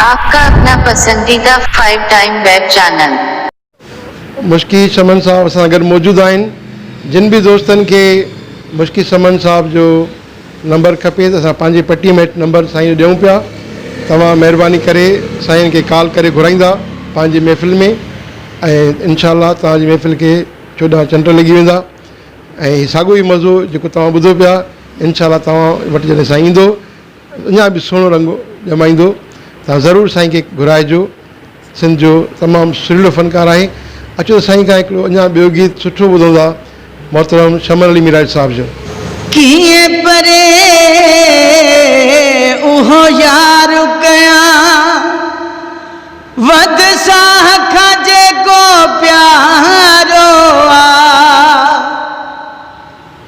آپ ڪا اپنا پسنديده فائيو ٽائيم ويب چينل. مشڪي سمن صاحب اسان گڏ موجود آهن جن به دوستن کي مشڪي سمن صاحب جو نمبر کپي ته اسان پنهنجي پٽي م هيٺ نمبر سائين جو ڏيون پيا توهان مهرباني ڪري سائين کي ڪال ڪري گهرائيندا پنهنجي محفل ۾ ۽ انشاء الله توهان جي محفل کي چوڏهن چنڊ لڳي ويندا ۽ ساڳو ئي مزو جيڪو توهان ٻڌو پيا انشاء الله توهان وٽ جڏهن سائين ايندو اڃا به سهڻو رنگ ڄمائيندو. توهان ضرور سائين کي گهرائجو. سنڌ جو تمام سريلو فنڪار آهي. اچو ته سائين کان هڪڙو اڃا ٻيو گيت سٺو ٻڌون ٿا محترم شمر علي ميراج صاحب جو. ڪيئن پري اهو يار ڪيان وڌ ساهه کان جيڪو پيارو آ.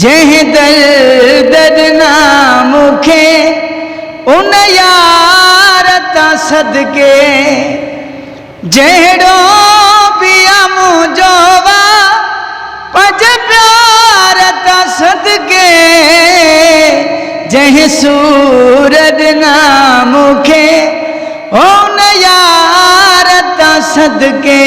جنهن درد ڏنا مون کي ان يار تان صدقي جهڙو به آ منهنجو وا پنهنجي پيار تان صدقي جنهن سور ڏنا مون کي ان يار تان صدقي.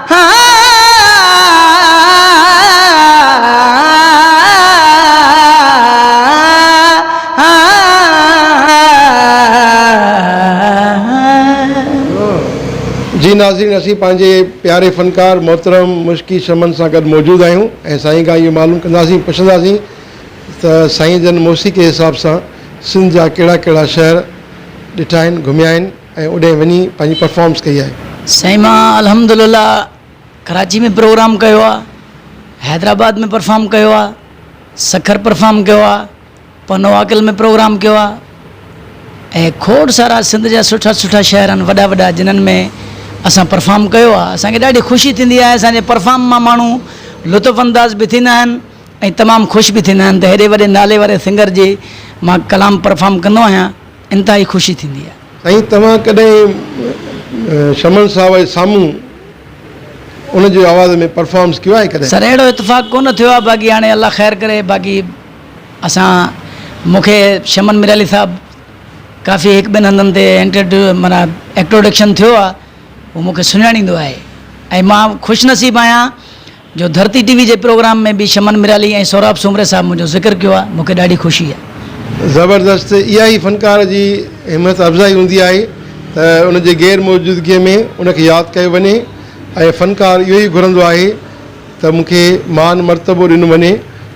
جي ناظرين اسين پنهنجي پياري فنڪار محترم مشڪي شمن سان گڏ موجود آهيون ۽ سائين کان اهو معلوم ڪنداسين پڇنداسين ته سائين جن موسيقي حساب سان سنڌ جا ڪهڙا ڪهڙا شهر ڏٺا آهن گهميا آهن ۽ اوڏهين وڃي پنهنجي پرفارمنس ڪئي آهي. سائين مان الحمدلله ڪراچي ۾ پروگرام ڪيو آ حيدرآباد ۾ پرفارم ڪيو آ سکر پرفارم ڪيو آ پنوواڪل ۾ پروگرام ڪيو آ اهي کوڙ سارا سنڌ جا سٺا سٺا شهر آهن وڏا وڏا جنھن ۾ اسان پرفارم ڪيو آ اسان کي ڏاڍي خوشي ٿيندي آهي اسان جي پرفارم مان ماڻھو لطف انداز به ٿيندا آهن ۽ تمام خوش به ٿيندا آهن ته هيڏي وڏي نالي واري سنگر جي مان ڪلام پرفارم ڪندو آهيان. انتهائي خوشي ٿيندي آهي. ۽ توهان ڪڏهن شمن صاحب جي سامهون ان جي آواز ۾ پرفارمنس ڪيو آهي ڪڏهن؟ سر اهڙو اتفاق ڪونه ٿيو آهي باقي هاڻي الله خير ڪري باقي اسان مون کي شمن ميرالي صاحب ڪافي هڪ ٻن هنڌن تي انٽرڊيو معنيٰ ايڪٽروڊڪشن ٿيو آهي هو مون کي سڃاڻيندو آهي ۽ مان خوش نصيب آهيان جو ڌرتي ٽي وي جي پروگرام ۾ به شمن ميرالي ۽ سهراب سومري صاحب منهنجو ذڪر ڪيو آهي مونکي ڏاڍي خوشي آهي. زبردست اها ئي فنڪار جي همت افزائي هوندي آهي ته ان جي غير موجودگي ۾ ان کي ياد ڪيو وڃي ۽ فنڪار اهو ئي گهرندو آهي ته مون کي مان مرتبو ڏنو وڃي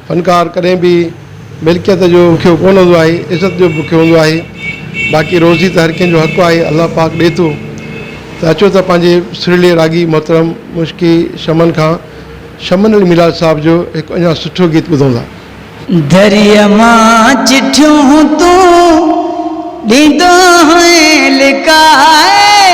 فنڪار ڪڏهن به ملڪيت جو بکيو ڪونه هوندو آهي، عزت جو به بکيو هوندو آهي، باقي روزي ته هر ڪنهن جو حق آهي، الله پاڪ ڏئي ٿو ته اچو ته پنهنجي سريلي راڳي محترم مشڪي شمن کان شمن علي ميلاد صاحب جو هڪ اڃا سٺو گيت ٻڌون ٿا. دريء مان چٺيون تون ڏيندو هئين لڪائي.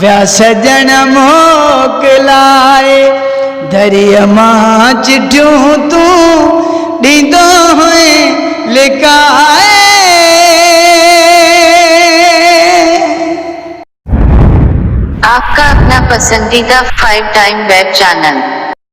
ويا سڄڻ موڪلائي دريء مان چٺيون تون ڏيندو هئين لڪائي. آپ ڪا اپنا پسنديده فائيو ٽائيم ويب چينل.